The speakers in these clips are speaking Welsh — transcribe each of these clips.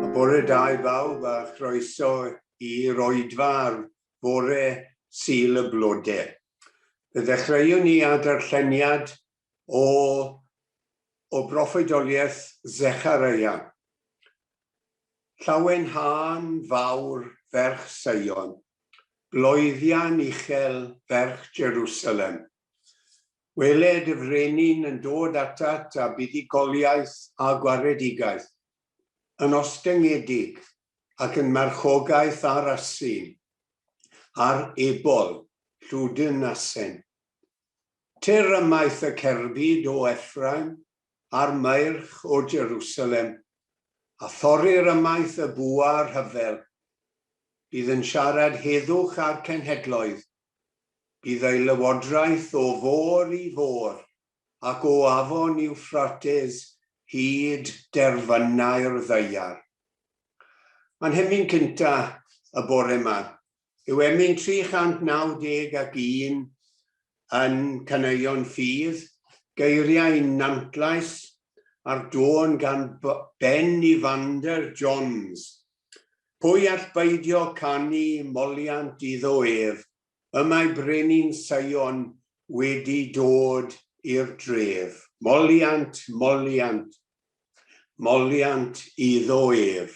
A bore da i bawb a chroeso i roedfa ar fore Sul y Blode. Fe ddechreuwn ni â darlleniad o o broffwydoliaeth Zechariah. Llawen hân fawr ferch Seion, bloeddian uchel ferch Jerusalem. Wele dy frenin yn dod atat â buddugoliaeth a gwaredigaeth, yn ostyngedig ac yn marchogaeth ar asyn, ar ebol, llwdyn asen. Tyr ymaith y cerbyd o Effraim a'r maerch o Jerusalem, a thorrir ymaith y bwa rhyfel. Bydd yn siarad heddwch â'r cenhedloedd. Bydd ei lywodraeth o fôr i fôr, ac o afon Iwffrates hyd derfynau'r ddaear. Mae'n hemyn cynta y bore ma. Yw emyn 391 yn caneuon ffydd, geiriau Nantlais ar dôn gan Ben Evander Johns, Pwy all beidio canu moliant iddo ef, y mae brenin Seion wedi dod i'r dref. Moliant, moliant, moliant iddo ef.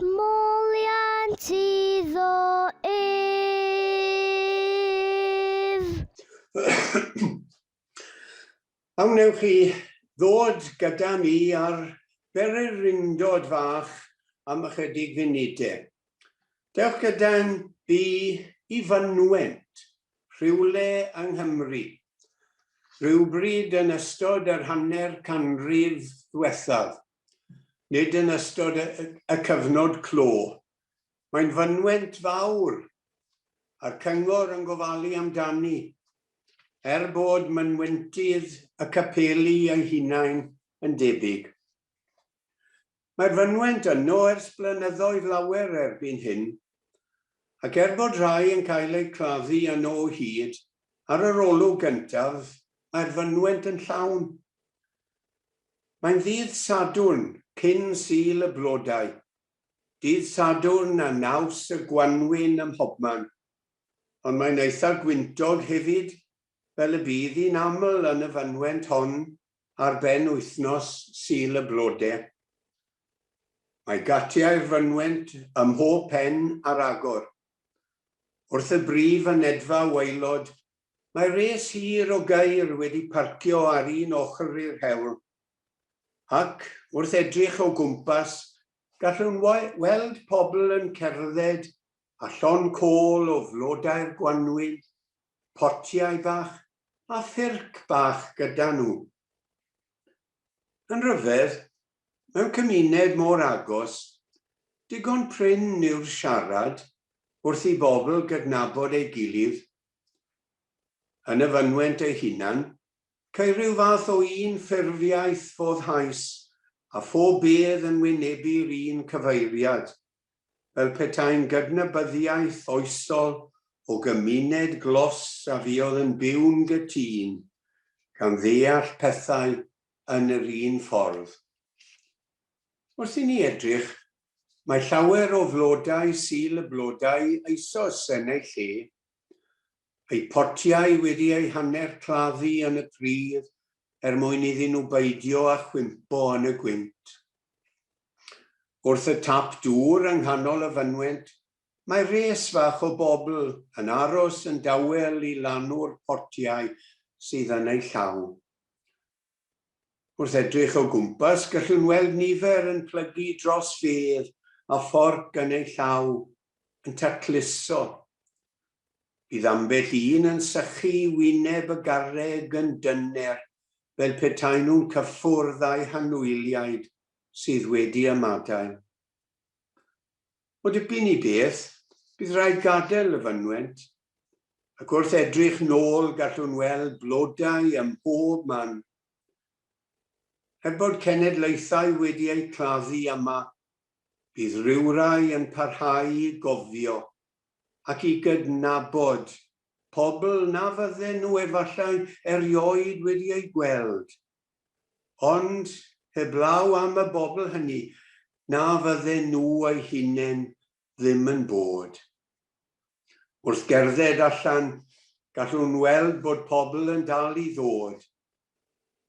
Moliant iddo ef. A wnewch chi ddod gyda mi ar bererindod fach am ychydig funudau? Dewch gyda'n fi i fynwent, rhywle yng Nghymru. Rhywbryd yn ystod yr hanner canrif ddwethaf, nid yn ystod y cyfnod clo. Mae'n fynwent fawr, a'r Cyngor yn gofalu amdani, er bod mynwentydd y capeli eu hunain yn debyg. Mae'r fynwent yno ers blynyddoedd lawer erbyn hyn, ac er bod rhai yn cael eu claddu yno o hyd, ar yr olwg gyntaf, mae'r fynwent yn llawn. Mae'n ddydd Sadwrn cyn Sul y Blodau, dydd Sadwrn a naws y gwanwyn ym mhobman, ond mae'n eitha gwyntog hefyd fel y bydd hi'n aml yn y fynwent hon ar ben wythnos Sul y Blode. Mae gatiau'r fynwent ym mhob pen ar agor, wrth y brif fynedfa waelod Mae res hir o gaeir wedi parcio ar un ochr i'r hewl, ac, wrth edrych o gwmpas, gallwn weld pobl yn cerdded a llond côl o flodau'r gwanwyn, potiau bach a ffyrc bach gyda nhw. Yn rhyfedd, mewn cymuned mor agos, digon prin yw'r siarad wrth i bobl gydnabod ei gilydd Yn y fynwent ei hunan, ceir rhyw fath o un ffurfiaeth foddhaus a phob bedd yn wynebu'r un cyfeiriad, fel petai'n gydnabyddiaeth oesol o gymuned glos a fuodd yn byw'n gytun, gan ddeall pethau yn yr un ffordd. Wrth i ni edrych Mae llawer o flodau Sul y blodau eisoes yn eu lle, eu potiau wedi eu hanner claddu yn y pridd er mwyn iddyn nhw beidio â chwympo yn y gwynt. Wrth y tap dŵr yng nghanol y fynwent, mae res fach o bobl yn aros yn dawel i lanw'r potiau sydd yn eu llaw. Wrth edrych o gwmpas, gallwn weld nifer yn plygu dros fedd a fforc yn eu llaw, yn tacluso. Bydd ambell un yn sychu i wyneb y garreg yn dyner, fel petaen nhw'n cyffwrdd â'u hanwyliaid sydd wedi ymadael. O dipyn i beth, bydd rhaid gadael y fynwent, ac wrth edrych nôl gallwn weld blodau ym mhob man. Er bod cenedlaethau wedi eu claddu yma, bydd rhywrai yn parhau i gofio ac i gydnabod pobl na fydden nhw efallai erioed wedi eu gweld Ond heblaw am y bobl hynny, na fydden nhw eu hunain ddim yn bod. Wrth gerdded allan, gallwn weld bod pobl yn dal i ddod.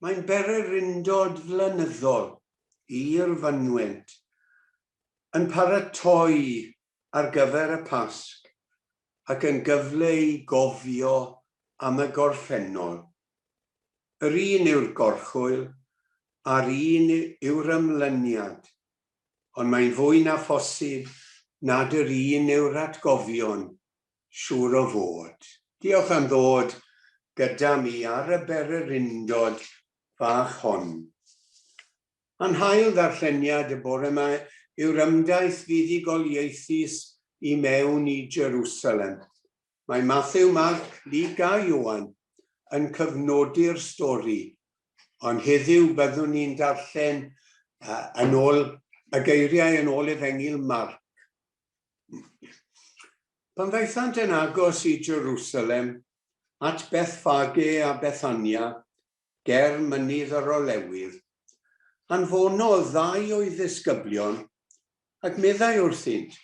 Mae'n bererindod flynyddol i'r fynwent, yn paratoi ar gyfer y Pasg ac yn gyfle i gofio am y gorffennol. Yr un yw'r gorchwyl a'r un yw'r ymlyniad, ond mae'n fwy na phosib nad yr un yw'r atgofion, siŵr o fod. Diolch am ddod gyda mi ar y bererindod fach hon. Yn hail ddarlleniad y bore yma yw'r ymdaith fuddugoliaethus i mewn i Jerusalem. Mae Mathew, Marc, Luc a Ioan yn cyfnodi'r stori, ond heddiw byddwn ni'n darllen yn ôl y geiriau yn ôl Efengyl Marc. Pan ddaethant yn agos i Jerusalem, at Bethfage a Bethania, ger Mynydd yr Olewydd, anfonodd ddau o'i ddisgyblion ac meddai wrthynt,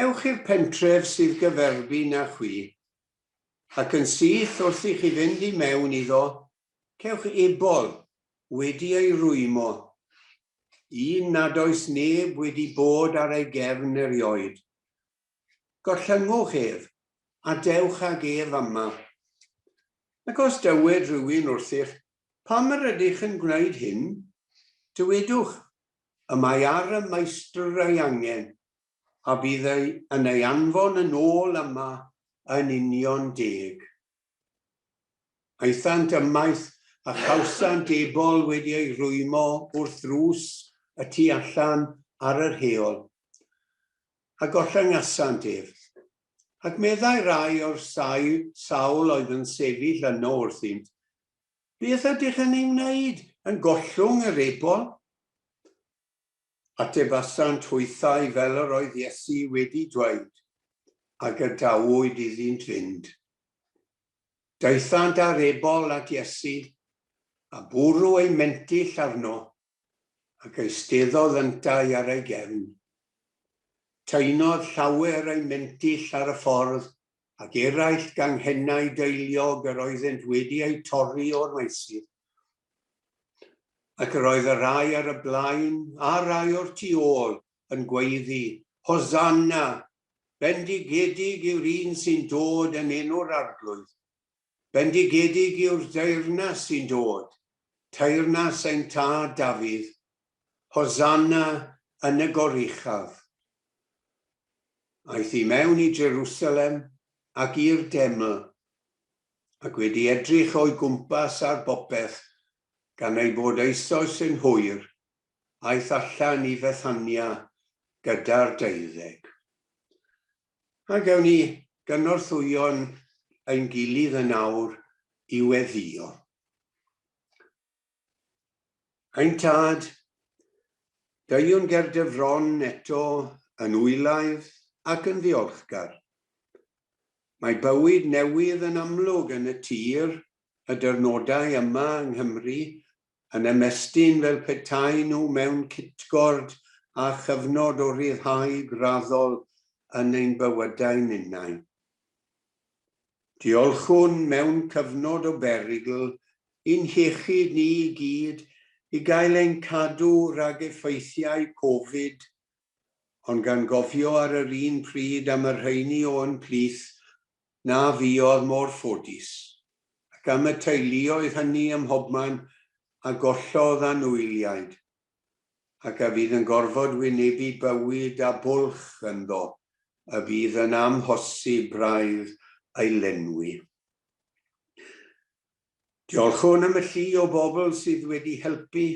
Ewch i'r pentref sydd gyferbyn â chwi, ac yn syth wrth i chi fynd i mewn iddo, cewch ebol wedi ei rwymo, un nad oes neb wedi bod ar ei gefn erioed, Gorllynwch ef, a dewch ag ef yma. Ac os dywed rhywun wrthych, Pam yr ydych yn gwneud hyn? dywedwch, Y mae ar y Maestr ei angen, a bydd ei yn ei anfon yn ôl yma yn union deg. Aethant ymaith, a chawsant ebol wedi ei rwymo wrth ddrws y tu allan ar yr heol, a gollangasant ef. Ac meddai rai o'r sawl oedd yn sefyll yno wrthynt, Beth ydych yn ei wneud, yn gollwng yr ebol? Atebasant hwythau fel yr oedd Iesu wedi dweud, a gadawyd iddynt fynd. Daethant â'r ebol at Iesu, a bwrw eu mentyll arno, ac eisteddodd yntau ar ei gefn. Taenodd llawer eu mentyll ar y ffordd ac eraill ganghennau deiliog yr oeddent wedi eu torri o'r maesydd, ac yr oedd y rhai ar y blaen a rhai o'r tu ôl yn gweiddi, Hosanna! Bendigedig yw'r un sy'n dod yn enw'r Arglwydd! Bendigedig yw'r deyrnas sy'n dod, teyrnas ein Tad Dafydd, Hosanna yn y goruchaf. Aeth i mewn i Jerusalem ac i'r deml, ac wedi edrych o'i gwmpas ar bopeth, gan ei bod eisoes yn hwyr, aeth allan i Fethania gyda'r deuddeg. A gewn ni gynorthwyo'n ein gilydd yn awr i weddïo. Ein Tad, deuwn ger dy fron eto yn wylaidd ac yn ddiolchgar. Mae bywyd newydd yn amlwg yn y tir, y dirnodau yma yng Nghymru yn ymestyn fel petaen nhw mewn cytgord â chyfnod o ryddhau graddol yn ein bywydau ninnau. Diolchwn mewn cyfnod o berygl i'n hiechyd ni i gyd i gael ein cadw rhag effeithiau Covid, ond gan gofio ar yr un pryd am y rheini o'n plith na fuodd mor ffodus, ac am y teuluoedd hynny ym mhobman a gollodd anwyliaid, ac a fydd yn gorfod wynebu bywyd â bwlch ynddo y bydd yn amhosib braidd ei lenwi. Diolchwn am y llu o bobl sydd wedi helpu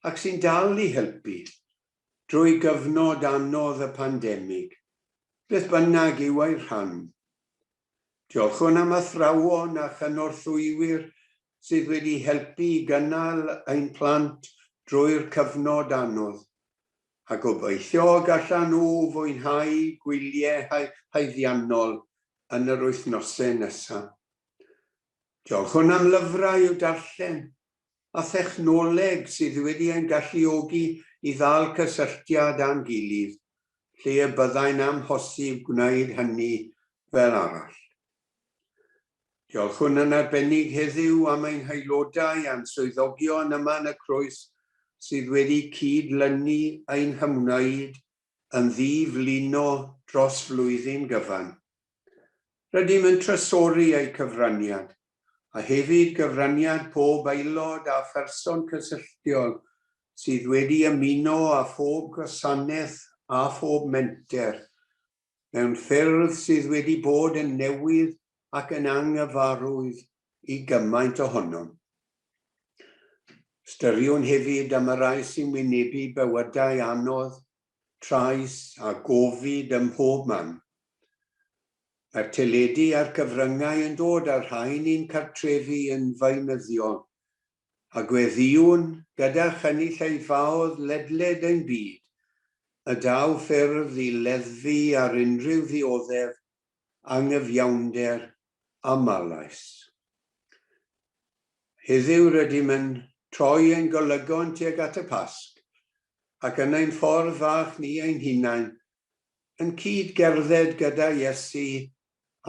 ac sy'n dal i helpu drwy gyfnod anodd y pandemig, beth bynnag yw ei rhan. Diolchwn am athrawon a chynorthwywyr sydd wedi helpu i gynnal ein plant drwy'r cyfnod anodd, a gobeithio y gallan nhw fwynhau gwyliau haeddiannol yn yr wythnosau nesaf. Diolchwn am lyfrau i'w darllen a thechnoleg sydd wedi ein galluogi i ddal cysylltiad â'n gilydd lle y byddai'n amhosib gwneud hynny fel arall. Diolchwn yn arbennig heddiw am ein haelodau a'n swyddogion yma yn y Croes sydd wedi cyd-lynu ein hymwneud yn ddi-flino dros flwyddyn gyfan. Rydym yn trysori eu cyfraniad, a hefyd gyfraniad pob aelod a pherson cysylltiol sydd wedi ymuno â phob gwasanaeth a phob menter, mewn ffyrdd sydd wedi bod yn newydd ac yn anghyfarwydd i gymaint ohonom. Ystyriwn hefyd am y rai sy'n wynebu bywydau anodd, trais a gofid ym mhob man. Mae'r teledu a'r cyfryngau yn dod â'r rhain i'n cartrefi yn feunyddiol, a gweddïwn, gyda chynulleidfaoedd ledled ein byd, y daw ffyrdd i leddfu ar unrhyw ddioddef, anghyfiawnder aml-lais. Heddiw rydym yn troi ein golygon tuag at y Pasg, ac yn ein ffordd fach ni ein hunain, yn cyd-gerdded gyda Iesu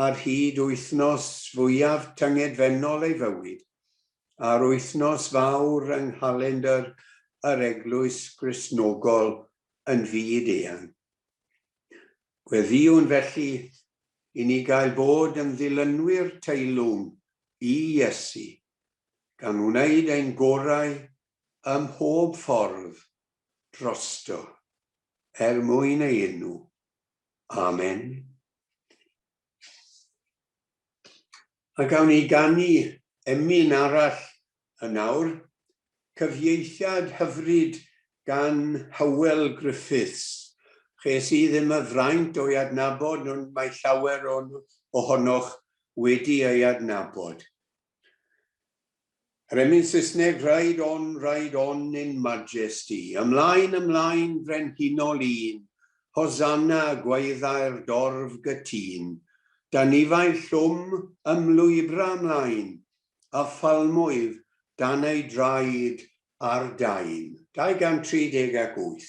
ar hyd wythnos fwyaf tyngedfennol ei fywyd, a'r wythnos fawr yng nghalendr yr Eglwys Gristnogol yn fyd-eang. Gweddïwn felly i ni gael bod yn ddilynwyr teilwng i Iesu, gan wneud ein gorau ym mhob ffordd drosto, er mwyn ei enw. Amen. A gawn ni ganu emyn arall yn awr, cyfieithiad hyfryd gan Hywel Griffiths. Ches i ddim y fraint o'i adnabod ond mae llawer ohonoch wedi ei adnabod. Rhemyn Saesneg Ride on, ride on in majesty Ymlaen, ymlaen, frenhinol un Hosanna, gwaeddai'r dorf gytun Dan nifail llwm ymlwybra ymlaen A phalmwydd dan ei draed ar daen. 238.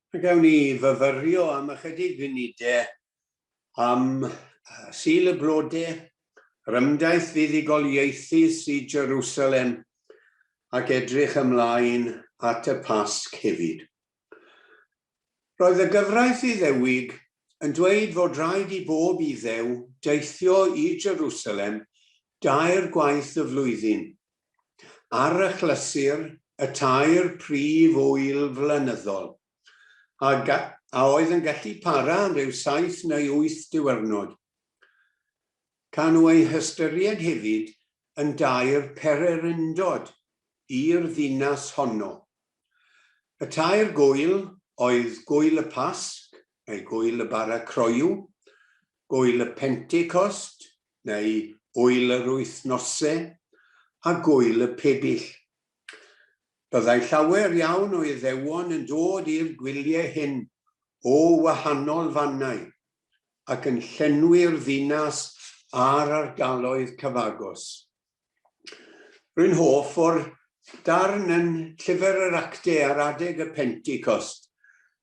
Fe gawn ni fyfyrio am ychydig funudau am Sul y Blodau, yr ymgais fuddugoliaethu sy Jerusalem ac edrych ymlaen at y Pasg hefyd. Roedd y gyfraith Iddewig yn dweud fod rhaid i bob Iddew deithio i Jerusalem dair gwaith y flwyddyn ar achlysur y tair prif ŵyl flynyddol, a a oedd yn gallu para am ryw saith neu wyth diwrnod. Ca nhw eu hystyried hefyd yn dair pererindod i'r ddinas honno. Y tair gŵyl oedd Gŵyl y Pasg, neu Gŵyl y Bara Croyw, Gŵyl y Pentecost, neu ŵyl yr wythnose, a gŵyl y pebyll. Byddai llawer iawn o Iddewon yn dod i'r gwyliau hyn o wahanol fannau, ac yn llenwi'r ddinas a'r ardaloedd cyfagos. Rwy'n hoff o'r darn yn Llyfr yr Actau ar adeg y Pentecost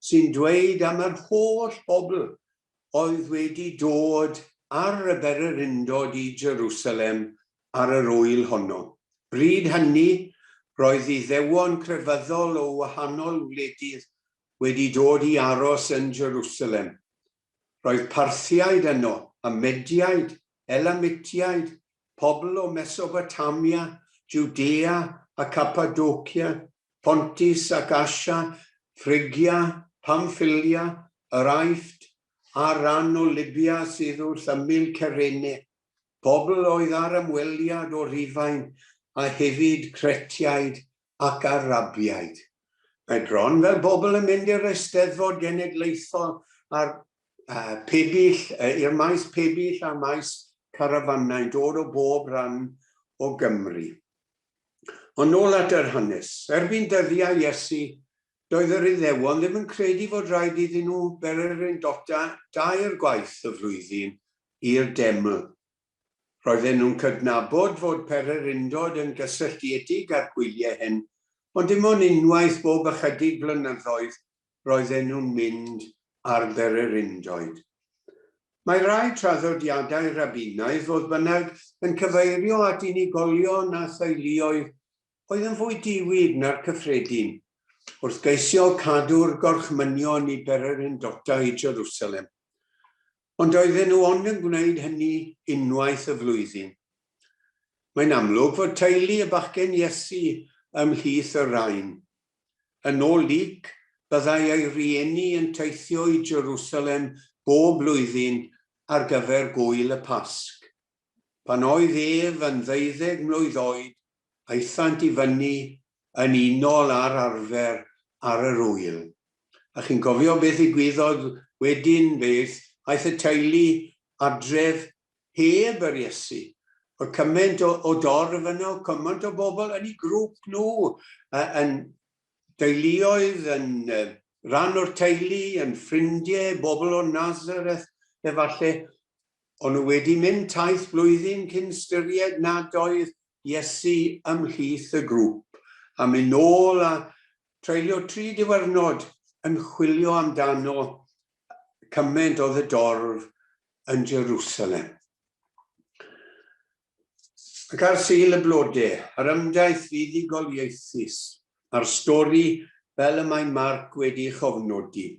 sy'n dweud am yr holl bobl oedd wedi dod ar y bererindod i Jerusalem ar yr ŵyl honno. Bryd hynny, roedd Iddewon crefyddol o wahanol wledydd wedi dod i aros yn Jerusalem. Roedd Parthiaid yno, a Mediaid, Elamitiaid, pobl o Mesobotamia, Jwdea a Capadocia, Pontus ac Asia, Phrygia, Pamffilia, yr Aifft, a'r rhan o Lybia sydd wrth ymyl Cyrene, pobl oedd ar ymweliad o Rufain, a hefyd Cretiaid ac Arabiaid. Mae bron fel bobl yn mynd i'r Eisteddfod Genedlaethol a'r uh, pebyll, uh, i'r maes pebyll a maes carafanau'n dod o bob rhan o Gymru. Ond nôl at yr hanes. Erbyn dyddiau Iesu, doedd yr Iddewon ddim yn credu fod rhaid iddyn nhw bererindota dair gwaith y flwyddyn i'r deml. Roedden nhw'n cydnabod fod pererindod yn gysylltiedig â'r gwyliau hyn, ond dim ond unwaith bob ychydig flynyddoedd roedden nhw'n mynd ar bererindoedd. Mae rhai traddodiadau Rabbinaidd, fodd bynnag, yn cyfeirio at unigolion a theuluoedd oedd yn fwy diwyd na'r cyffredin, wrth geisio cadw'r gorchmynion i bererindodau Jerusalem. Ond doedden nhw ond yn gwneud hynny unwaith y flwyddyn. Mae'n amlwg fod teulu y bachgen Iesu ymhlith y rhain. Yn ôl Luc, byddai ei rieni yn teithio i Jerusalem bob blwyddyn ar gyfer gŵyl y Pasg. Pan oedd ef yn ddeuddeg mlwydd oed, aethant i fyny yn unol ar arfer ar yr ŵyl. A chi'n cofio beth ddigwyddodd wedyn, beth? Aeth y teulu adref heb yr Iesu. Oedd cymaint o, o dorf yno, cymaint o bobl yn eu grŵp nhw, yn deuluoedd, yn rhan o'r teulu, yn ffrindiau, bobl o Nazareth, efallai. O'n nhw wedi mynd taith blwyddyn cyn ystyried nad oedd Iesu ymhlith y grŵp a mynd nôl a treulio tri diwrnod yn chwilio amdano cymaint oedd y dorf yn Jerusalem. Ac ar Sul y Blode, yr ymdaith fuddugoliaethus a'r stori fel y mae Marc wedi chofnodi.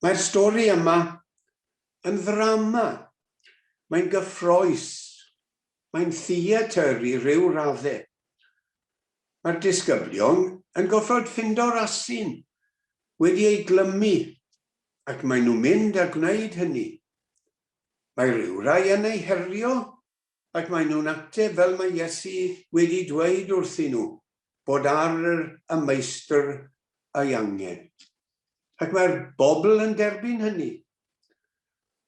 Mae'r stori yma yn ddrama, mae'n gyffrous, mae'n theatr i ryw radde. Mae'r disgyblion yn gorfod ffindo'r asyn wedi ei glymu ac maen nhw'n mynd a gwneud hynny. Mae rhyw rai yn ei herio Ac maen nhw'n ateb fel mae Iesu wedi dweud wrthyn nhw, bod ar yr y Meistr ei angen. Ac mae'r bobl yn derbyn hynny.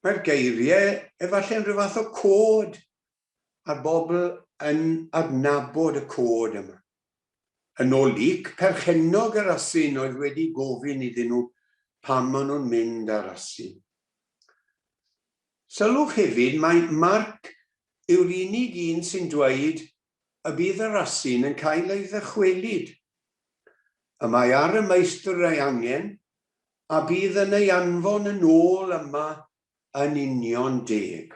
Mae'r geiriau efalle'n rhyw fath o cod, a'r bobl yn adnabod y cod yma. Yn ôl Luke, perchennog yr asyn oedd wedi gofyn iddyn nhw pam maen nhw'n mynd ar asyn. Sylwch hefyd mai Mark yw'r unig un sy'n dweud y bydd yr asyn yn cael ei ddychwelyd. Y mae ar y Meistr ei angen, a bydd yn ei anfon yn ôl yma yn union deg.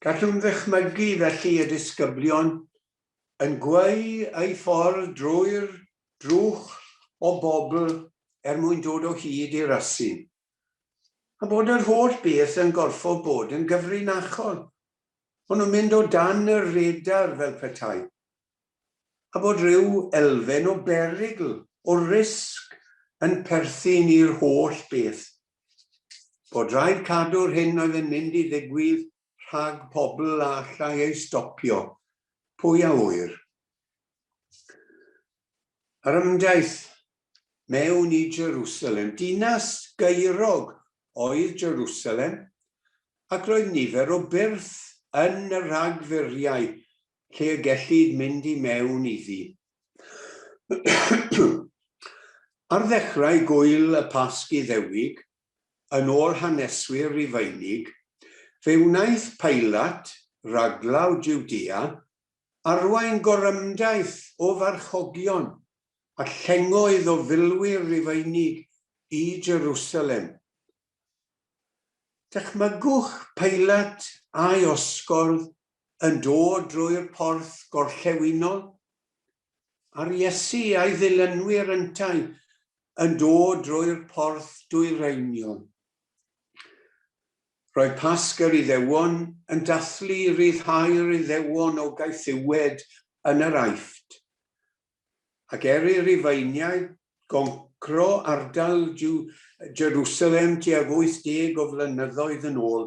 Gallwn ddychmygu felly y disgyblion yn gweu eu ffordd drwy'r drwch o bobl er mwyn dod o hyd i'r asyn, a bod yr holl beth yn gorfod bod yn gyfrinachol, bo' nhw'n mynd o dan y radar fel petai, a bod rhyw elfen o berygl, o risg, yn perthyn i'r holl beth. bod rhaid cadw'r hyn oedd yn mynd i ddigwydd rhag pobl a allai ei stopio, pwy a ŵyr. Yr ymdaith mewn i Jerusalem, dinas gaerog oedd Jerusalem, ac roedd nifer o byrth yn y rhagfuriau lle y gellid mynd i mewn iddi. Ar ddechrau Gŵyl y Pasg Iddewig, yn ôl haneswyr Rufeinig, fe wnaeth Pilat, raglaw Jwdea, arwain gorymdaith o farchogion a llengoedd o filwyr Rufeinig i Jerusalem, Dychmygwch peilat a'i osgordd yn dod drwy'r porth gorllewinol, a'r Iesu a'i ddilynwyr yntau yn dod drwy'r porth dwyreiniol. Roedd Pasg yr Iddewon yn dathlu ryddhau'r Iddewon o gaethiwed yn yr Aifft, ac er i Rifeiniaid goncro ardal Jerwsalem tuag 80 o flynyddoedd yn ôl,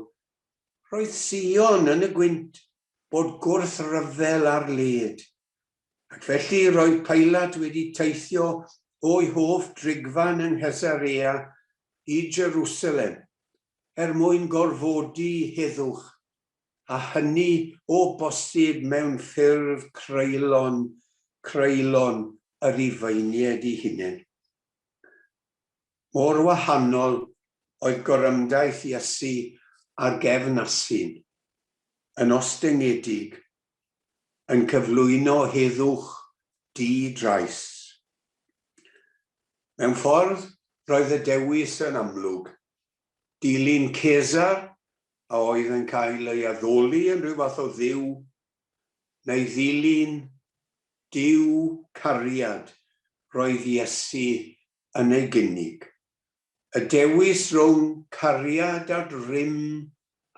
roedd Sion yn y gwynt bod gwrthryfel ar led, ac felly roedd Pilat wedi teithio o'i hoff drigfan yng Nghesarea i Jerwsalem er mwyn gorfodi heddwch a hynny o bosib mewn ffurf creulon, creulon y Rhufeiniaid eu hunain. Mor wahanol oedd gorymdaith Iesu a gefn asyn, yn ostyngedig, yn cyflwyno heddwch di-drais. Mewn ffordd, roedd y dewis yn amlwg, Dilyn Cesar, a oedd yn cael ei addoli yn rhyw fath o dduw, neu ddilyn Duw cariad, roedd Iesu yn ei gynnig. Y dewis rhwng cariad a grym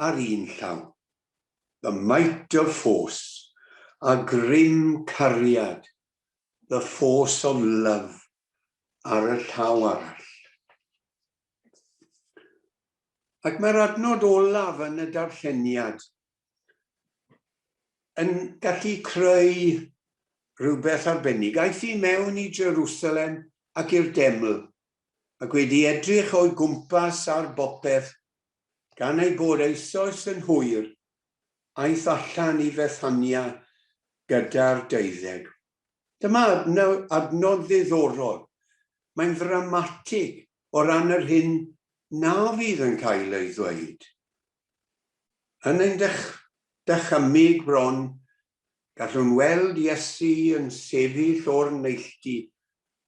ar un llaw, the might of force, a grym cariad, the force of love, ar y llaw arall. Ac mae'r adnod olaf yn y darlleniad yn gallu creu rhywbeth arbennig. Aeth i mewn i Jerusalem ac i'r deml, ac wedi edrych o'i gwmpas ar bopeth, gan ei bod eisoes yn hwyr, aeth allan i Fethania gyda'r deuddeg. Dyma adnod ddiddorol. Mae'n ddramatig o ran yr hyn na fydd yn cael ei ddweud. Yn ein dychymyg bron, gallwn weld Iesu yn sefyll o'r neilltu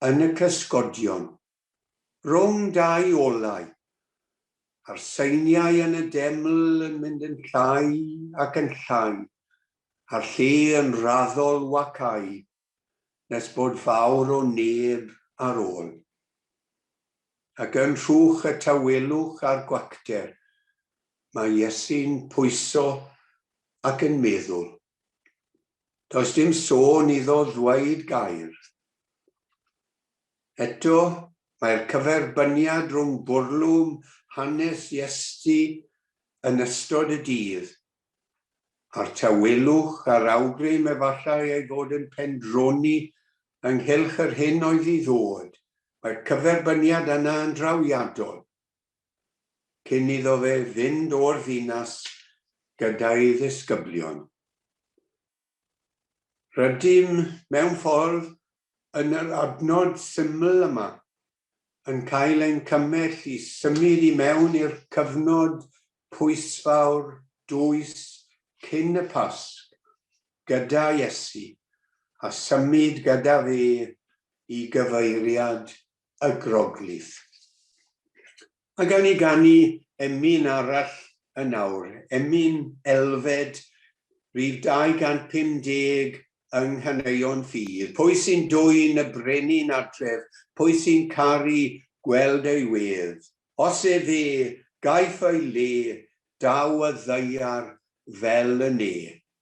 yn y cysgodion. Rhwng dau olau, a'r seiniau yn y deml yn mynd yn llai ac yn llai, a'r lle yn raddol wacáu, nes bod fawr o neb ar ôl. Ac yn rhwch y tawelwch a'r gwacter, mae Iesu'n pwyso ac yn meddwl. Does dim sôn iddo ddweud gair. Eto, mae'r cyferbyniad rhwng bwrlwm hanes Iesti yn ystod y dydd, a'r tawelwch a'r awgrym efallai ei fod yn pendroni ynghylch yr hyn oedd i ddod, mae'r cyferbyniad yna yn drawiadol. cyn iddo fe fynd o'r ddinas gyda'i ddisgyblion. Rydym, mewn ffordd, yn yr adnod syml yma, yn cael ein cymell i symud i mewn i'r cyfnod pwysfawr dwys cyn y Pasg gyda Iesu, a symud gyda fe i gyfeiriad y groglith. Mae gawn ni ganu emyn arall yn awr, emyn elfed, rhif 250 yng Nghaneuon Ffydd. Pwy sy'n dwyn y brenin adref, pwy sy'n caru gweld ei wedd? Os ef e, gaiff ei le, daw y ddaear fel y ne.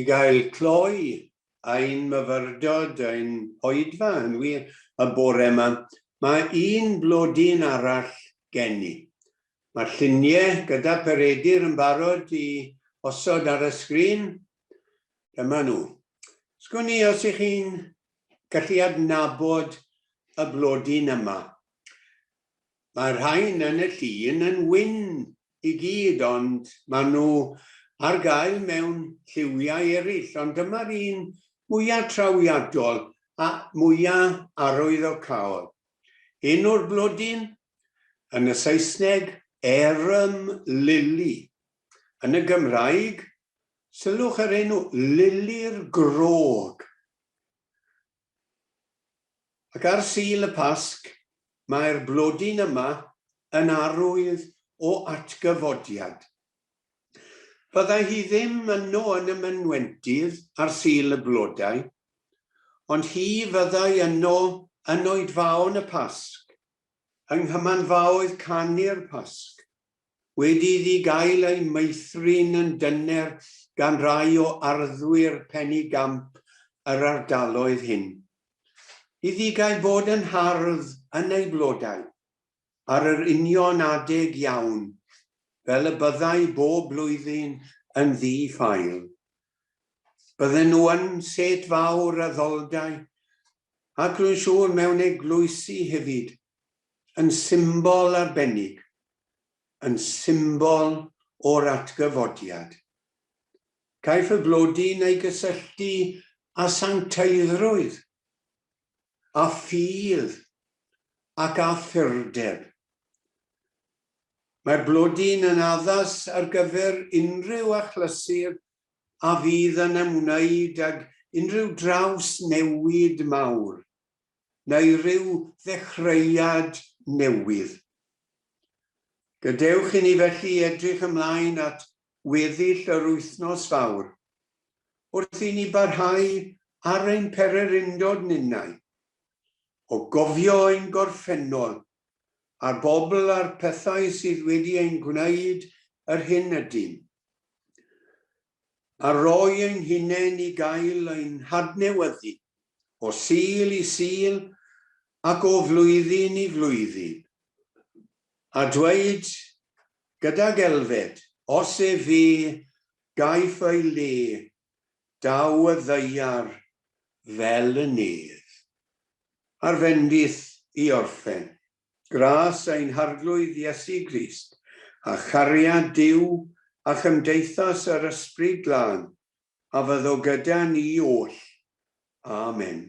i gael cloi ein myfyrdod, ein hoedfa yn wir y bore yma, mae un blodyn arall gen i. Mae'r lluniau gyda Peredur yn barod i osod ar y sgrin, Dyma nhw. Sgwn i os ych chi'n gallu adnabod y blodyn yma. Mae'r rhain yn y llun yn wyn i gyd, ond maen nhw ar gael mewn lliwiau eraill, ond dyma'r un mwyaf trawiadol a mwyaf arwyddocaol. Un o'r blodyn, yn y Saesneg, arum lily, yn y Gymraeg, Sylwch ar enw, Lili'r Grog. Ac ar Sul y Pasg, mae'r blodyn yma yn arwydd o atgyfodiad. Byddai hi ddim yno yn y mynwentydd ar Sul y Blodau, ond hi fyddai yno yn oedfaon y Pasg, yng nghymanfaoedd canu'r Pasg, wedi iddi gael ei meithrin yn dyner gan rai o arddwyr pennu gamp yr ardaloedd hyn. Iddi gael bod yn hardd yn ei flodau, ar yr union adeg iawn, fel y byddai bob blwyddyn yn ddi-ffael. Bydden nhw yn set fawr a ddoldai, ac rwy'n siŵr mewn eglwysi hefyd, yn symbol arbennig, yn symbol o'r atgyfodiad. Caiff y flodyn ei gysylltu â sancteiddrwydd, â ffydd ac â phurdeb. Mae'r blodyn yn addas ar gyfer unrhyw achlysur a fydd yn ymwneud ag unrhyw drawsnewid mawr. neu ryw ddechreuad newydd. Gadewch i ni felly edrych ymlaen at weddill yr wythnos fawr, wrth i ni barhau ar ein pererindod ninnau, o gofio ein gorffennol, a'r bobl a'r pethau sydd wedi ein gwneud yr hyn ydym. a rhoi ein hunain i gael ein hadnewyddu o Sul i Sul ac o flwyddyn i flwyddyn, a dweud gydag elfed, Os efe gaiff ei le, daw y ddaear fel y nedd. Ar fendith i orffen. Grace ein Harglwydd Iesu Grist, a chariad Duw a chymdeithas yr Ysbryd Glân, a fyddo gyda ni oll. Amen.